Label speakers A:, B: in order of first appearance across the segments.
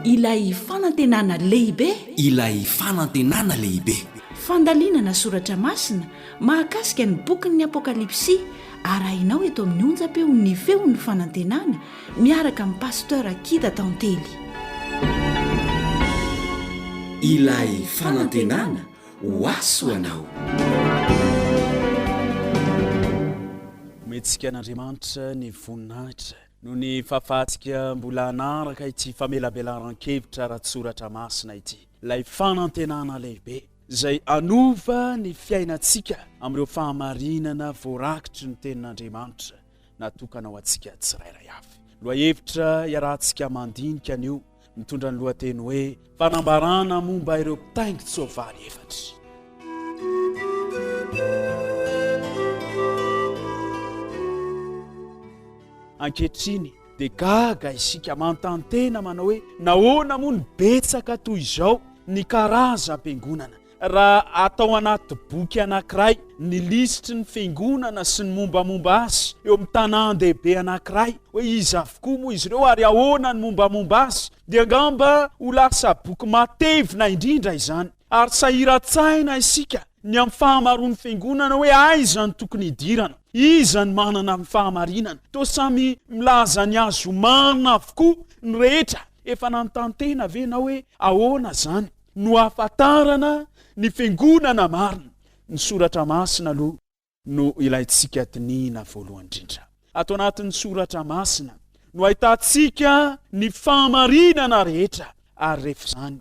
A: Ilay fanantenana lehibe. Ilay
B: fanantenana lehibe. Fandalinana
A: soratra masina mahakasika ny bokin'ny Apokalypsy arahinao eto amin'ny onjam-peo Ny Feon'ny Fanantenana miaraka amin'i Pasteur Kida Tantely.
B: Ilay fanantenana ho azy ho anao.
C: Omentsika an'Andriamanitra ny voninahitra. Noho ny fahafahantsika mbola hanaraka ity famelabelaran-kevitra ara-tsoratra masina ity, ilay fanantenana lehibe izay hanova ny fiainantsika amin'ireo fahamarinana voarakitry ny Tenin'Andriamanitra natokana ho antsika tsirairay avy. Lohahevitra iarahantsika mandinika anio. mitondra ny lohateny hoe fanambarana momba ireo mpitaingin-tsoavaly efatra. Ankehitriny dia gaga isika manontany tena manao hoe nahoana moa ny betsaka toy izao ny karazam-piangonana Raha atao anaty boky anankiray ny lisitry ny fiangonana sy ny mombamomba azy eo amin'ny tanàn-dehibe anankiray, hoe iza avokoa moa izy ireo ary ahoana ny mombamomba azy, dia angamba ho lasa boky matevina indrindra izany. Ary sahiran-tsaina isika ny amin'ny fahamaroan'ny fiangonana hoe aiza no tokony hidirana, iza no manana ny fahamarinana. Toa samy milaza ny azy ho marina avokoa ny rehetra. Efa nanontany tena ve ianao hoe ahoana izany? no ahafantarana ny fiangonana marina. Ny soratra masina aloha no ilaintsika dinihina voalohany indrindra. Ato anatin'ny soratra masina no ahitantsika ny fahamarinana rehetra ary rehefa izany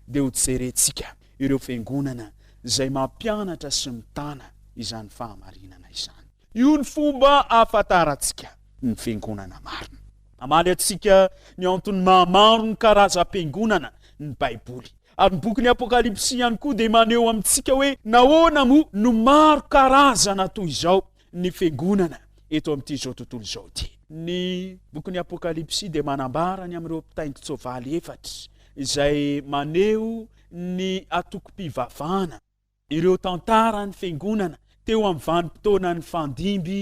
C: dia ho jerentsika ireo fiangonana izay mampianatra sy mitana izany fahamarinana izany. Io ny fomba ahafantarantsika ny fiangonana marina. Namaly antsika ny antony maha-maro ny karazam-piangonana ny Baiboly. Ary ny bokin'ny Apokalypsy ihany koa dia maneho amintsika hoe nahoana moa no maro karazana toy izao ny fiangonana eto amin'ity izao tontolo izao ity. Ny bokin'ny Apokalypsy dia manambara ny amin'ireo mpitaingin-tsoavaly efatra izay maneho ny antokom-pivavahana. Ireo tantaran'ny Fiangonana teo amin'ny vanim-potoanan'ny fandimby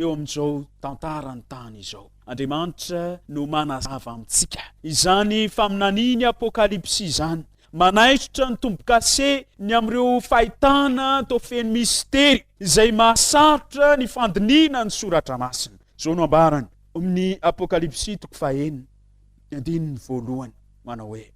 C: eo amin'izao tantaran'ny tany izao. Andriamanitra no manazava amintsika izany faminaniany Apokalypsy izany. Manaisotra ny tombo-kase ny amin'ireo fahitana toa feno mistery izay mahasarotra ny fandinihina ny Soratra Masina. Izao no ambarany amin'ny Apokalypsy toko fahenina, ny andininy voalohany, manao hoe.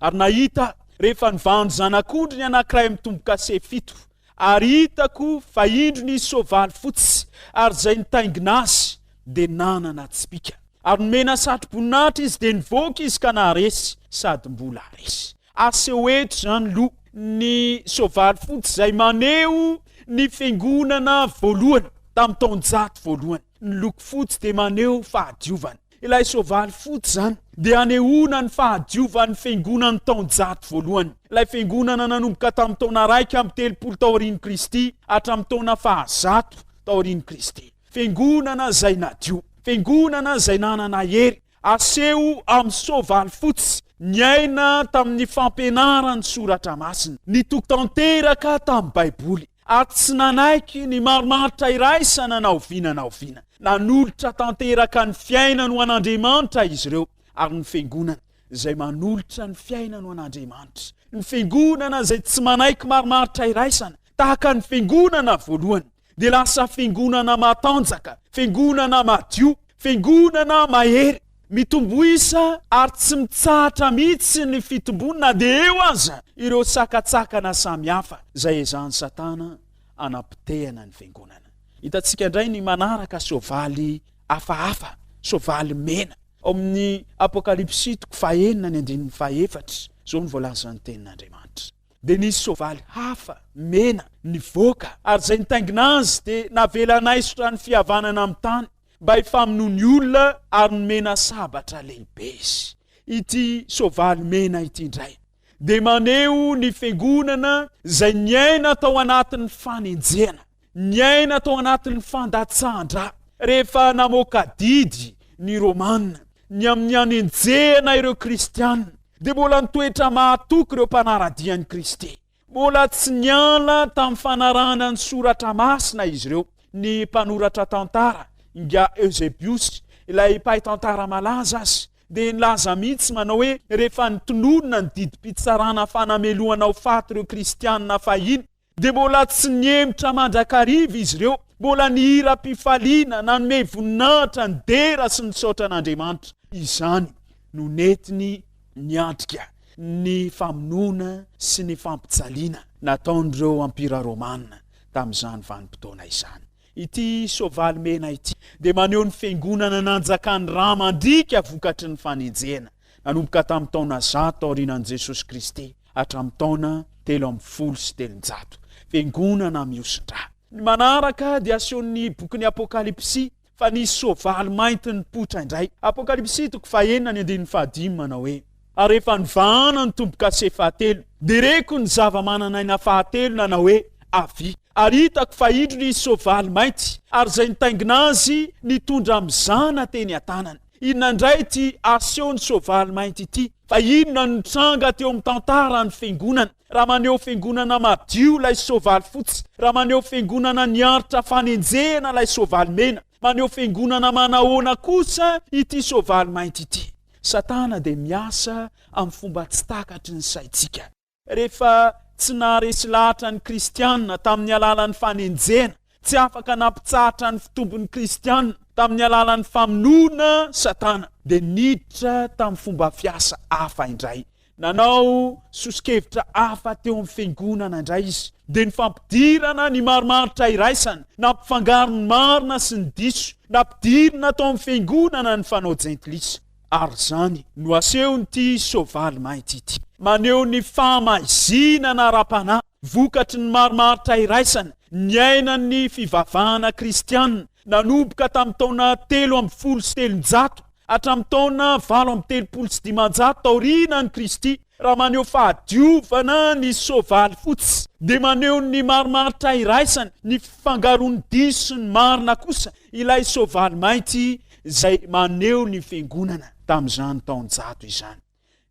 C: Ary nahita rehefa nivandy zanak'ondry ny anankiray mitomboka se fito, ary hitako fa indro nisy soavaly fotsy, ary izay nitaingina azy dia nanana tsipika. Ary nomena satroboninahitra izy, dia nivoaka izy ka naharesy, sady mbola haharesy. Aseho eto izany loha ny soavaly fotsy izay maneho ny fiangonana voalohany tamin'ny taonjato voalohany. Ny loko fotsy dia maneho fahadiovana. Ilay soavaly fotsy izany dia anehoana ny fahadiovan'ny fiangonan'ny taonjato voalohany, ilay fiangonana nanomboka tamin'ny taona iraika amby telopolo taorian'i Kristy hatramin'ny taona fahazato taorian'i Kristy. Fiangonana izay nadio, fiangonana izay nanana hery, aseho amin'ny soavaly fotsy, niaina tamin'ny fampianaran'ny Soratra Masina, nitoky tanteraka tamin'ny Baiboly. ary tsy nanaiky ny marimaritra iraisana na oviana na oviana. Nanolotra tanteraka ny fiainany ho an'Andriamanitra izy ireo, ary ny Fiangonana izay manolotra ny fiainany ho an'Andriamanitra. Ny Fiangonana izay tsy manaiky marimaritra iraisana, tahaka ny Fiangonana voalohany, dia lasa Fiangonana matanjaka, Fiangonana madio, Fiangonana mahery. Mitombo isa ary tsy mitsahatra mihitsy ny fitomboany na dia eo aza ireo sakantsakana samihafa izay ezahan'i Satana hanapotehana ny Fiangonana. Hitantsika indray ny manaraka soavaly hafahafa, soavaly mena, ao amin'ny Apokalypsy toko fahenina ny andininy fahefatra. Izao no voalazan'ny Tenin'Andriamanitra, Dia nisy soavaly hafa, mena, nivoaka, ary izay nitaingina azy dia navela naisotra ny fihavanana amin'ny tany. mba hifamonoa ny olona ary nomena sabatra lehibe izy. Ity soavaly mena ity indray dia maneho ny fiangonana izay niaina tao anatin'ny fanenjehana, niaina tao anatin'ny fandatsahan-dra, rehefa namoaka didy ny Romana ny amin'ny hanenjehana ireo kristiana, dia mbola nitoetra mahatoky ireo mpanara-dia an'i Kristy. Mbola tsy niala tamin'ny fanarahana ny soratra masina izy ireo, ny mpanoratra tantara, Inga Eusebius, ilay mpahay tantara malaza azy, dia nilaza mihitsy manao hoe rehefa nitonona ny didim-pitsarana fanamelohana ho faty ireo Kristianina fahiny, dia mbola tsy nihemotra mandrakariva izy ireo, mbola nihiram-pifaliana, nanome voninahitra, nidera sy nisaotra an'Andriamanitra. Izany no nentiny niatrika ny famonoana sy ny fampijaliana nataon'ireo Ampira Romana tamin'izany vanim-potoana izany. Ity soavaly mena ity dia maneho ny fiangonana nanjakan'i Rama Andriaka vokatry ny fanenjehana, nanomboka tamin'ny taona zato taorianan'i Jesosy Kristy hatramin'ny taona telo ambin'ny folo sy telonjato. Fiangonana mihosin-dra. Ny manaraka dia asehon'ny bokin'ny Apokalypsy Fa nisy soavaly mainty nipoitra indray. Apokalypsy toko fahenina ny andininy fahadimy manao hoe, Ary rehefa nivahana ny tombo-kase fahatelo, dia reko ny zava-manan'aina fahatelo nanao hoe, Avia! Ary hitako fa indro nisy soavaly mainty, ary izay nitaingina azy nitondra mizana teny an-tanany. Inona indray ity asehon'ny soavaly mainty ity? Fa inona no nitranga teo amin'ny tantaran'ny Fiangonana? Raha maneho Fiangonana madio ilay soavaly fotsy, raha maneho Fiangonana niaritra fanenjehana ilay soavaly mena, maneho Fiangonana manahoana kosa ity soavaly mainty ity? Satana dia miasa amin'ny fomba tsy takatry ny saintsika. Rehefa tsy naharesy lahatra ny Kristianina tamin'ny alalan'ny fanenjehana, tsy afaka nampitsahatra ny fitombon'ny Kristianina tamin'ny alalan'ny famonoana Satana, dia niditra tamin'ny fomba fiasa hafa indray. Nanao soso-kevitra hafa teo amin'ny fiangonana indray izy, dia ny fampidirana ny marimaritra iraisana, nampifangaro ny marina sy ny diso, nampidirina tao amin'ny fiangonana ny fanao jentilisa. Ary izany no asehon'ity soavaly mainty ity. Maneho ny fahamaizinana ara-panahy vokatry ny marimaritra iraisana niainan'ny fivavahana kristiana nanomboka tamin'ny taona telo ambin'ny folo sy telonjato hatramin'ny taona valo amby telopolo sy dimanjato taorianan'i Kristy. Raha maneho fahadiovana ny soavaly fotsy, dia maneho ny marimaritra iraisana ny fifangaroan'ny diso sy ny marina kosa ilay soavaly mainty izay maneho ny Fiangonana tamin'izany taonjato izany.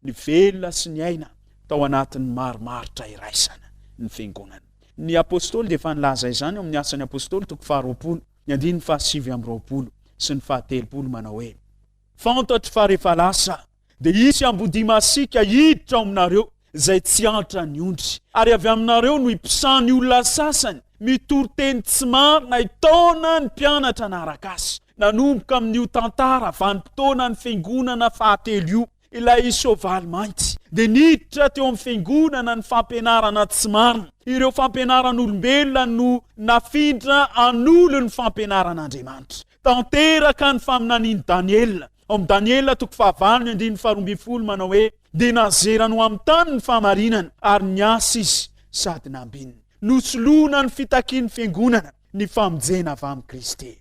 C: Nivelona sy niaina tao anatin'ny marimaritra iraisana ny Fiangonana. Ny Apôstôly dia efa nilaza izany ao amin'ny Asan'ny Apôstôly toko faharoapolo, ny andininy fahasivy amby roapolo sy ny fahatelopolo manao hoe, Fantatro fa rehefa lasa dia hisy ambodia masiaka hiditra ao aminareo, izay tsy antra ny ondry. Ary avy aminareo no hiposahan'ny olona sasany, mitory teny tsy marina hitaona ny mpianatra hanaraka azy. Nanomboka amin'io tantara vanim-potoanan'ny fiangonana fahatelo io, ilay soavaly mainty, dia niditra teo amin'ny fiangonana ny fampianarana tsy marina. Ireo fampianaran'olombelona no nafindra hanolo ny fampianaran'Andriamanitra. Tanteraka ny faminanian'i Daniela Ao amin'ny Daniela toko fahavalo ny andininy faharoa ambin'ny folo manao hoe, Dia nazerany ho amin'ny tany ny fahamarinana, ary niasa izy sady nambininy. Nosoloana ny fitakian'ny fiangonana ny famonjena avy amin'i Kristy.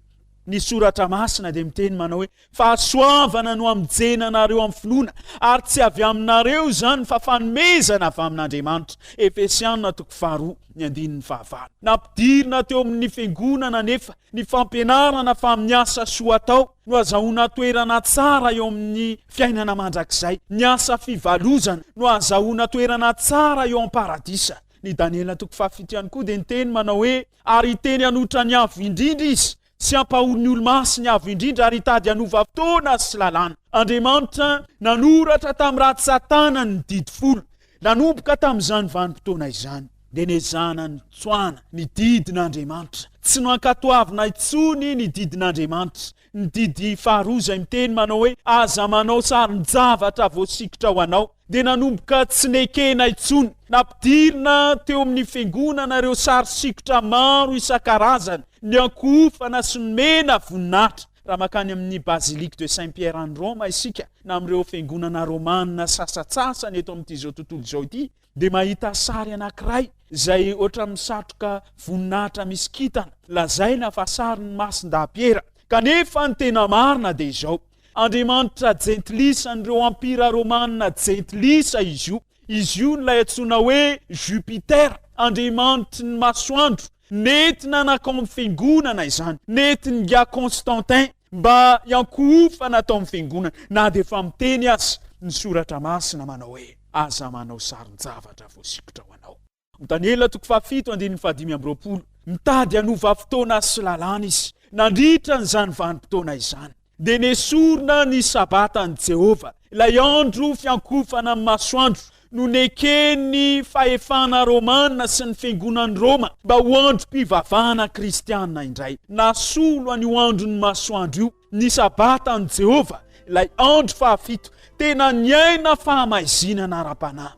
C: Ny Soratra Masina dia miteny manao hoe, Fahasoavana no hamonjena anareo amin'ny finoana, ary tsy avy aminareo izany fa fanomezana avy amin'Andriamanitra. Efesiana toko faharoa ny andininy fahavalo. Nampidirina teo amin'ny fiangonana anefa ny fampianarana fa amin'ny asa soa atao, no hazahoana toerana tsara eo amin'ny fiainana mandrakizay, ny asa fivalozana no hazahoana toerana tsara eo am-paradisa. Ny Daniela toko fahafito ihany koa dia niteny manao hoe, Ary hiteny hanohitra ny Avo Indrindra izy, sy hampahory ny Olomasy ny Avo Indrindra, ary hitady hanova fotoana sy lalàna. Andriamanitra nanoratra tamin'ny ratsan-tanany ny Didy Folo. Nanomboka tamin'izany vanim-potoana izany, dia niezahana nitsoahana ny didin'Andriamanitra. Tsy nankatoavina intsony ny didin'Andriamanitra. Ny didy faharoa izay miteny manao hoe, Aza manao sarin-javatra voasikotra ho anao, dia nanomboka tsy nekena intsony. Nampidirina teo amin'ny fiangonana ireo sary sikotra maro isan-karazany, ny ankohofana sy nomena voninahitra. Raha makany amin' ny Basilique de Saint Pierre any Roma isika, na amin' ireo fiangonana rômana sasatsasany eto amin' ity izao tontolo izao ity, dia mahita sary anankiray izay hoatra ny satroka voninahitra misy kintana, lazaina fa sarin' ny Masin-dahy Piera. Kanefa ny tena marina dia izao, andriamanitra jentilisa an' ireo ampira rômana jentilisa izy io. Izy io no ilay antsoina hoe Jupiter, andriamanitry ny masoandro. Nety nanakao amin'ny fiangonana izany. Nety ninga Constantin mba hiankohofana tao amin'ny fiangonana, na dia efa miteny aza ny Soratra Masina manao hoe, Aza manao saron-javatra voasikotra ho anao. Daniela toko fahafito andininy fahadimy amby roapolo, Nitady hanova fotoana sy lalàna izy nandritra an'izany vanim-potoana izany. dia nesorina ny Sabatan'i Jehovah, ilay andro fiankofana amin'ny masoandro, no neken'ny fahefana romana sy ny fiangonan'i Roma mba ho androm-pivavahana kristiana indray. Nasolo an'io andron'ny masoandro io ny Sabatan'i Jehovah, ilay andro fahafito tena niaina fahamaizinana ara-panahy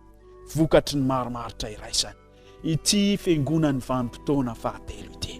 C: vokatry ny marimaritra iraisana. ity fiangonan'ny vanim-potoana fahatelo ity.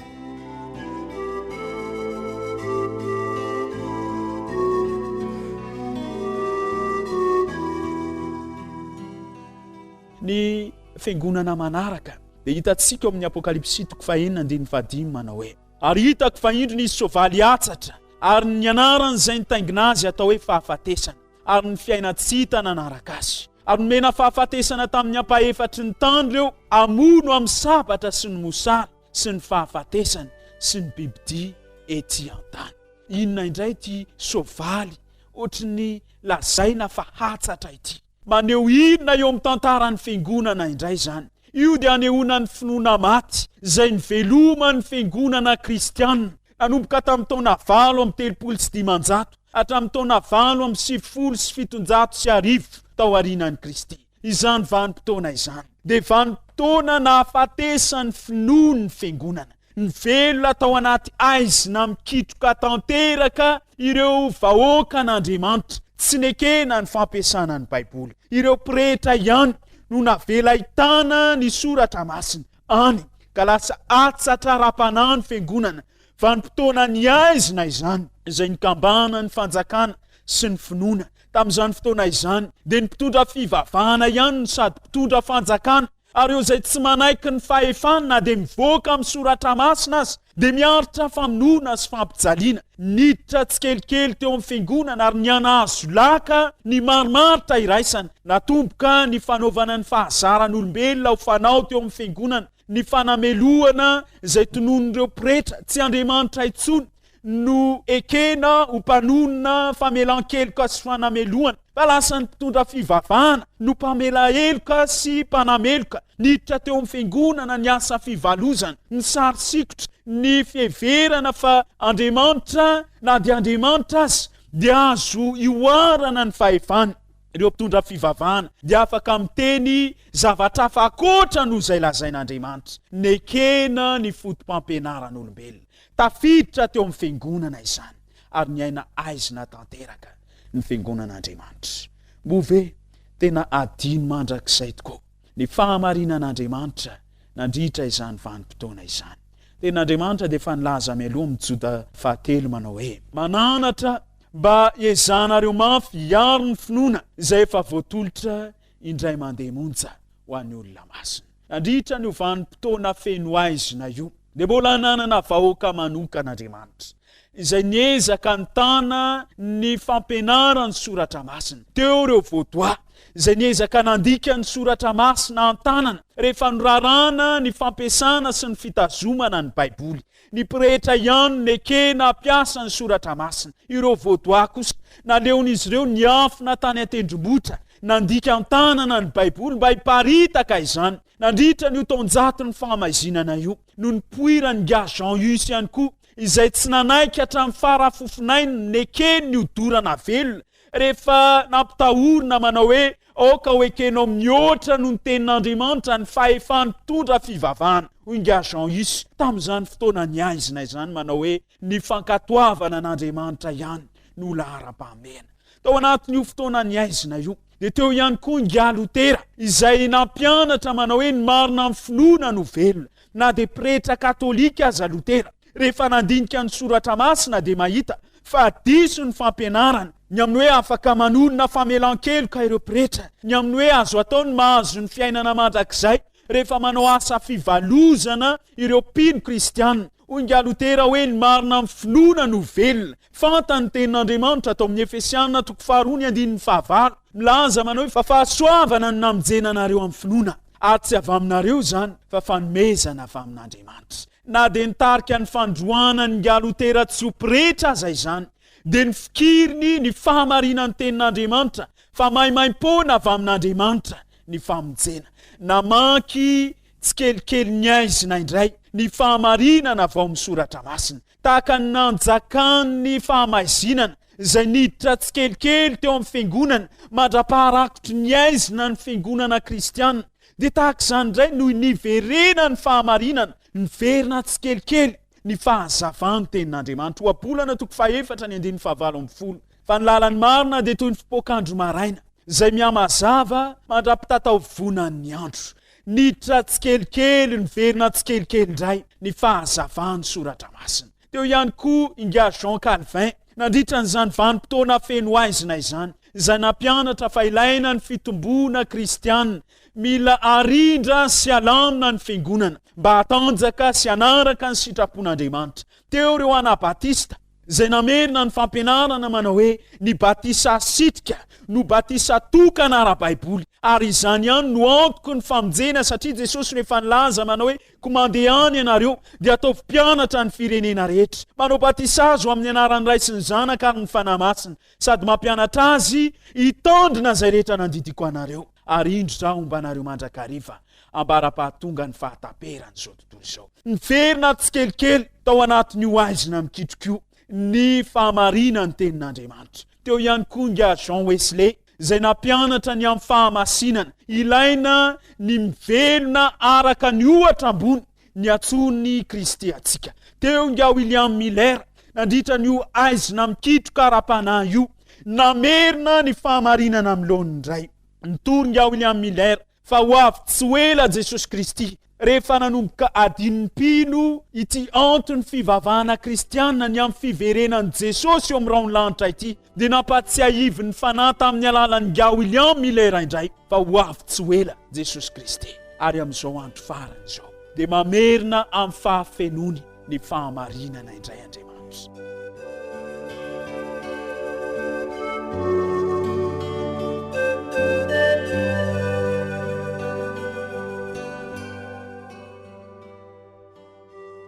C: Ny fiangonana manaraka dia hitantsika ao amin'ny Apokalypsy toko fahenina andininy fahadimy manao hoe ary hitako fa indro nisy soavaly atsatra ary ny anaran'izay nitaingina azy atao hoe fahafatesana ary ny fiaina tsy hita nanaraka azy. Ary nomena fahafatesana tamin'ny ampahefatry ny tany ireo hamono amin'ny sabatra sy ny mosary sy ny fahafatesana sy ny bibidia ety an-tany. Inona indray ity soavaly ohatry ny lazaina fa hatsatra ity? Maneho inona eo amin'ny tantaran'ny Fiangonana indray izany? Io dia anehoana ny finoana maty izay niveloman'ny Fiangonana kristianina Nanomboka tamin'ny taona valo amby telopolo sy dimanjato hatramin'ny taona valo amby sivifolo sy fitonjato sy arivo tao aorianan'i Kristy. Izany vanim-potoana izany dia vanim-potoana nahafatesan'ny finoan'ny Fiangonana. Nivelona tao anaty haizina mikitroka tanteraka ireo vahoakan'Andriamanitra tsy nekena ny fampiasana ny Baiboly. Ireo pretra ihany no navela hitana ny Soratra Masina. any ka lasa hatsatraram-panahy ny fiangonana vanim-potoana ny haizina izany, izay nikambana ny fanjakana sy ny finoana tamin'izany fotoana izany dia ny mpitondra fivavahana ihany no sady mpitondra fanjakana ary eo izay tsy manaiky ny fahefany na dia mivoaka amin'ny soratra masina aza dia miaritra famonoana sy fampijaliana. Niditra tsikelikely teo amin'ny fiangonana ary nianahazo laka ny marimaritra iraisana. Natomboka ny fanaovana ny fahazaran'olombelona ho fanao teo amin'ny fiangonana, ny fanamelohana izay tononin'ireo pretra tsy Andriamanitra intsony no ekena ho mpanonona famelan-keloka sy fanamelohana, fa lasa ny mpitondra fivavahana no mpamela heloka sy mpanameloka. Niditra teo amin'ny Fiangonana ny asa fivalozana, ny sary sikotra, ny fiheverana fa Andriamanitra na dia Andriamanitra aza dia azo ihoarana ny fahefany. Ireo mpitondra fivavahana dia afaka miteny zavatra hafa ankoatra noho izay lazain'Andriamanitra. Nekena ny foto-pampianaran'olombelona tafiditra teo amin'ny Fiangonana izany, ary niaina haizina tanteraka ny Fiangonan'Andriamanitra. Moa ve tena adino mandrakizay tokoa? ny fahamarinan'Andriamanitra nandritra izany vanim-potoana izany. Tenin'Andriamanitra dia efa nilaza mialoha amin'ny Joda fahatelo manao hoe. Mananatra mba hiezahanareo mafy hiaro ny finoana izay efa voatolotra indray mandeha monja ho an'ny olona masina. Nandritra an'io vanim-potoana feno haizina io. dia mbola nanana vahoaka manokana Andriamanitra, izay niezaka nitana ny fampianaran'ny soratra masina. Teo ireo Vaudois, izay niezaka nandika ny soratra masina an-tanana, rehefa norarana ny fampiasana sy ny fitazomana ny Baiboly. Ny pretra ihany nekena hampiasa ny soratra masina. Ireo Vaudois kosa, naleon'izy ireo niafina tany an-tendrombohitra, nandika an-tanana ny Baiboly mba hiparitaka izany. Nandritra an'io taonjaton'ny fahamaizinana io no nipoiran'i Nga Jean Hus ihany koa izay tsy nanaiky hatramin'ny fara fofonay ny nekeny ny hodorana velona rehefa nampitahorina manao hoe aoka ho ekenao mihoatra noho ny tenin'Andriamanitra ny fahefany mitondra fivavahana, hoy Nga Jean Hus tamin'izany fotoana niaizinay izany manao hoe Ny fankatoavana an'Andriamanitra ihany no laharam-pahamehana. Tao anatin'io fotoana nihaizina io, dia teo ihany koa ingahy Lotera, izay nampianatra manao hoe ny marina amin'ny finoana no velona. Na dia pretra katolika aza Lotera, rehefa nandinika ny Soratra Masina, dia mahita fa diso ny fampianarana ny amin'ny hoe afaka manonona famelan-keloka ireo pretra, ny amin'ny hoe azo atao ny mahazo ny fiainana mandrakizay rehefa manao asa fivalozana ireo mpino kristiana. Hoy ingahy Lotera hoe ny marina amin'ny finoana no velona. Fantany ny tenin'Andriamanitra tao amin'ny Efesiana toko faharoa ny andininy fahavalo. Milaza manao hoe fa fahasoavana no namonjena anareo amin'ny finoana, ary tsy avy aminareo izany fa fanomezana avy amin'Andriamanitra. Na dia nitarika ny fandroahana an'ingahy Lotera tsy ho pretra aza izany, dia nofikiriny ny fahamarinan'ny tenin'Andriamanitra fa maimaim-poana avy amin'Andriamanitra. ny famonjena. Namaky tsikelikely ny aizina indray ny fahamarinana avy ao amin'ny soratra masina, tahaka ny nanjakan'ny fahamaizinana izay niditra tsikelikely teo amin'ny fiangonana mandra-paharakotry ny aizina ny fiangonana kristianina. Dia tahaka izany indray noho niverena ny fahamarinana, niverina tsikelikely ny fahazavan'ny tenin'Andriamanitra. Ohabolana toko fahefatra ny andininy fahavalo ambin'ny folo. Fa ny lalan'ny marina dia toy ny fipoak'andro maraina, izay mihamazava mandra-pitataovonan'ny andro. Niditra tsikelikely, niverina tsikelikely indray ny fahazavan'ny Soratra Masina. Teo ihany koa Ingahy Jean Calvin, nandritra an'izany vanim-potoana feno haizina izany, izay nampianatra fa ilaina ny fitomboana kristiana, mila arindra sy alamina ny fiangonana, mba hatanjaka sy hanaraka ny sitrapon'Andriamanitra. Teo ireo Anabatista. izay namerina ny fampianarana manao hoe ny batisa sitrika no batisa tokana ara-baiboly, ary izany ihany no antoky ny famonjena, satria Jesosy no efa nilaza manao hoe, Koa mandeha any ianareo, dia ataovy mpianatra ny firenena rehetra, manao batisa azy ho amin'ny anaran'ny Ray sy ny Zanaka ary ny Fanahy Masina, sady mampianatra azy hitandrina izay rehetra nandidiako anareo, ary indro izaho homba anareo mandrakariva, ambara-pahatongan'ny fahataperan'izao tontolo izao. Niverina tsikelikely tao anatin'io haizina mikitroka io ny fahamarinan'ny Tenin'Andriamanitra. Teo ihany koa ingahy Jean Wesley, izay nampianatra ny amin'ny fahamasinana, ilaina ny mivelona araka ny ohatra ambony, ny atsorin'ny Kristy antsika. Teo ingahy William Miller nandritra an'io aizina mikitroka ara-panahy io namerina ny fahamarinana amin'ny laoniny indray. Nitory ingahy William Miller fa ho avy tsy ho ela Jesosy Kristy rehefa nanomboka adin'ny mpino ity anton'ny fivavahana kristianina ny amin'ny fiverenan'i Jesosy eo amin'ny rahon'ny lanitra ity dia nampahatsiahivin'ny Fanahy tamin'ny alalan'i Ngah William Miller indray fa ho avy tsy ho ela Jesosy Kristy ary amin'izao andro farany izao dia mamerina amin'ny fahafenoany ny fahamarinana indray Andriamanitra.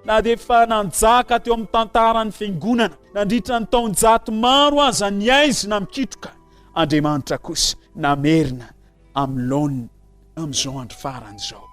C: Na dia efa nanjaka teo amin'ny tantaran'ny fiangonana nandritra ny taonjato maro aza ny aizina mikitroka, Andriamanitra kosa namerina amin'ny laoniny amin'izao andro farany izao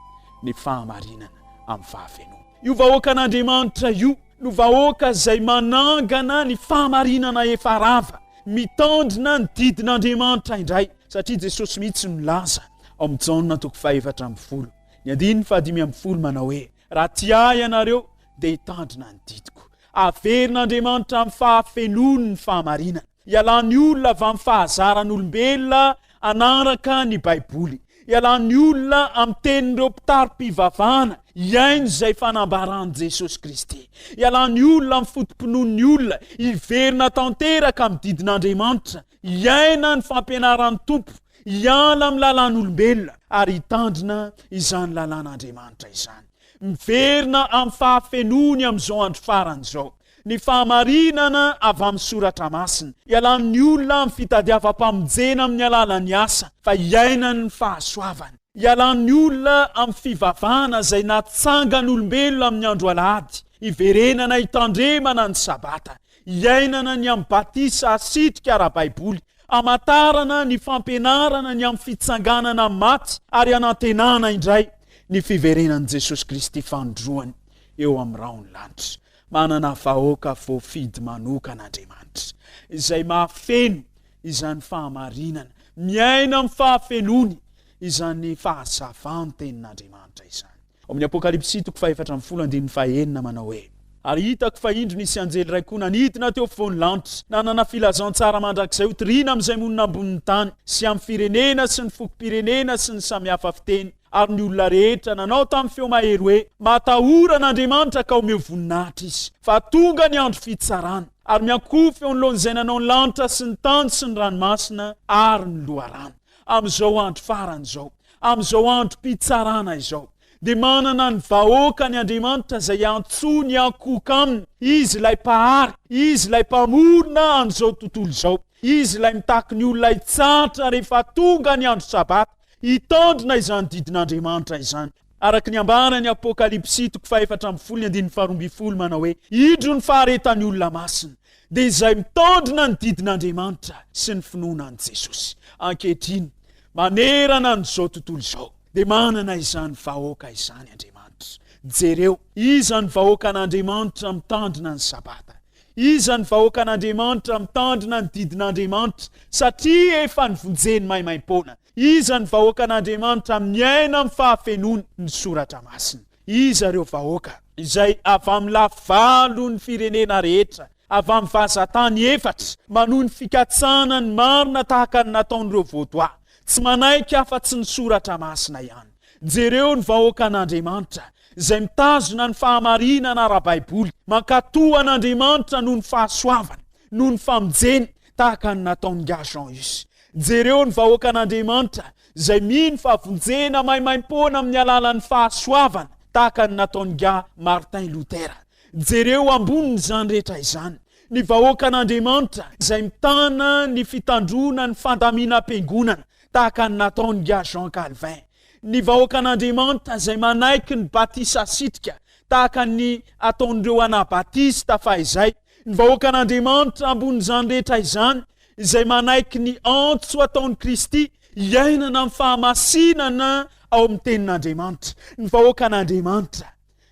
C: ny fahamarinana amin'ny fahafenoana. Io vahoakan'Andriamanitra io no vahoaka izay manangana ny fahamarinana efa rava, mitandrina ny didin'Andriamanitra indray, satria Jesosy mihitsy milaza ao amin'ny Jaona toko fahefatra ambin'ny folo. Ny andininy fahadimy ambin'ny folo manao hoe raha tia ahy ianareo dia hitandrina ny didiko. Averin'Andriamanitra amin'ny fahafenoany ny fahamarinana. Ialany olona avy amin'ny fahazaran'olombelona hanaraka ny Baiboly. Ialany olona amin'ny tenin'ireo mpitari-pivavahana hihaino izay fanambaran'i Jesosy Kristy. Ialany olona amin'ny foto-pinoan'ny olona hiverina tanteraka amin'ny didin'Andriamanitra hiaina ny fampianaran'ny Tompo, hiala amin'ny lalàn'olombelona ary hitandrina izany lalàn'Andriamanitra izany. Miverina amin'ny fahafenoany amin'izao andro farany izao ny fahamarinana avy amin'ny soratra masina. Ialan'ny olona amin'ny fitadiavam-pamonjena amin'ny alalan'ny asa fa hiainany ny fahasoavany. Ialan'ny olona amin'ny fivavahana izay natsangan'olombelona amin'ny andro alahady, hiverenana hitandremana ny sabata. Iainana ny amin'ny batisa asitrika ara-baiboly, hamantarana ny fampianarana ny amin'ny fitsanganana amin'ny maty ary hanantenana indray ny fiverenan'i Jesosy Kristy fanindroany eo amin'ny rahon'ny lanitra. Manana vahoaka voafidy manokana Andriamanitra, izay mahafeno izany fahamarinana, miaina amin'ny fahafenoany izany fahazavan-tenin'Andriamanitra izany. Ao amin'ny Apokalypsy toko fahefatra ambin'ny folo andininy fahaenina manao hoe. Ary hitako fa indro nisy anjely iray koa nanidina teo afovoan'ny lanitra, nanana filazantsara mandrakizay hotorina amin'izay monina ambonin'ny tany, sy amin'ny firenena sy ny fokom-pirenena sy ny samy hafa fiteny, ary ny olona rehetra, nanao tamin'ny feo mahery hoe, Matahora an'Andriamanitra ka omeo voninahitra izy, fa tonga ny andro fitsarany, ary miankohoka eo anoloan'izay nanao ny lanitra sy ny tany sy ny ranomasina ary ny loharano. Amin'izao andro farany izao, amin'izao androm-pitsarana izao, dia manana ny vahoakany Andriamanitra izay antsoiny hankohoka aminy. Izy ilay mpahary, izy ilay mpamorona an'izao tontolo izao. Izy ilay mitaky ny olona hitsahatra rehefa tonga ny andro sabata, hitandrina izany didin'Andriamanitra izany. Araka ny ambara ny Apokalypsy toko fahefatra ambin'ny folo ny andininy faharoa ambin'ny folo manao hoe, Indro ny faharetan'ny olona masina, dia izay mitaondrina ny didin'Andriamanitra sy ny finoana an'i Jesosy. Ankehitriny, manerana an'izao tontolo izao, dia manana izany vahoaka izany Andriamanitra. Jereo, iza ny vahoakan'Andriamanitra mitandrina ny Sabata? Iza ny vahoakan'Andriamanitra mitandrina ny didin'Andriamanitra satria efa nivonjeny maimaim-poana? Iza ny vahoakan'Andriamanitra miaina amin'ny fahafenoan' ny Soratra Masina? Iza ireo vahoaka? Izay avy amin'ny lafy valon' ny firenena rehetra, avy amin'ny vazan-tany efatra, manohy ny fikatsahana ny marina tahaka ny nataon'ireo Vôdoà, tsy manaiky afa-tsy ny Soratra Masina ihany. Jereo ny vahoakan'Andriamanitra, izay mitazona ny fahamarinana ara-baiboly, mankatò an' Andriamanitra noho ny fahasoavany, noho ny famonjeny, tahaka ny nataon'i Gajean izy. Jereo ny vahoakan'Andriamanitra izay mino fa vonjena maimaim-poana amin'ny alalan'ny fahasoavana tahaka ny nataon'i Ga Martin Luther. Jereo ambonin'izany rehetra izany ny vahoakan'Andriamanitra izay mitana ny fitandroana ny fandaminam-piangonana tahaka ny nataon'i Ga Jean Calvin. Ny vahoakan'Andriamanitra izay manaiky ny batisa sitrika tahaka ny ataon'ireo Anabatista fahizay Ny vahoakan'Andriamanitra ambonin'izany rehetra izany, izay manaiky ny antso ataon'i Kristy hiainana amin'ny fahamasinana ao amin'ny Tenin'Andriamanitra. Ny vahoakan'Andriamanitra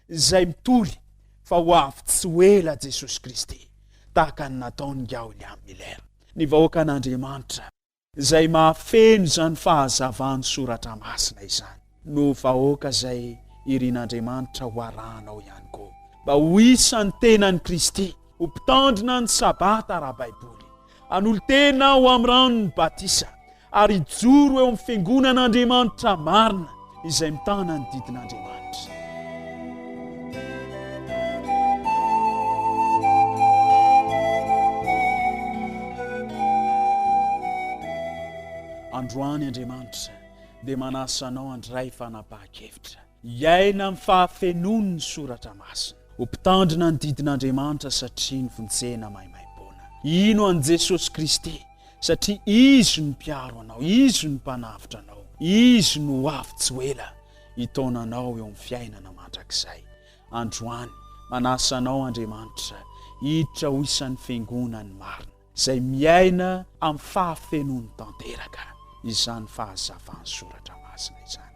C: izay mitory fa ho avy tsy ho ela Jesosy Kristy, tahaka ny nataon'i Gaolia Miller. Ny vahoakan'Andriamanitra izay mahafeno izany fahazavan'ny soratra masina izany no vahoaka izay irin'Andriamanitra ho arahanao ihany koa mba ho isan'ny tenan'i Kristy ho mpitandrina ny sabata ara-baiboly hanolo-tena ho amin'ny ranon'ny batisa ary hijoro eo amin'ny fiangonan'Andriamanitra marina izay mitana ny didin'Andriamanitra. Androany Andriamanitra dia manasa anao handray fanapahan-kevitra, hiaina amin'ny fahafenoan'ny soratra masina, ho mpitandrina ny didin'Andriamanitra satria nofontsena maimaimpoana. Ino an'i Jesosy Kristy satria Izy no mpiaro anao, Izy no mpanavotra anao, Izy no ho avy tsy ho ela hitaona anao eo amin'ny fiainana mandrakizay. Androany, manasa anao Andriamanitra hiditra ho isan'ny Fiangonany marina, izay miaina amin'ny fahafenoany tanteraka izany fahazavan'ny Soratra Masina izany.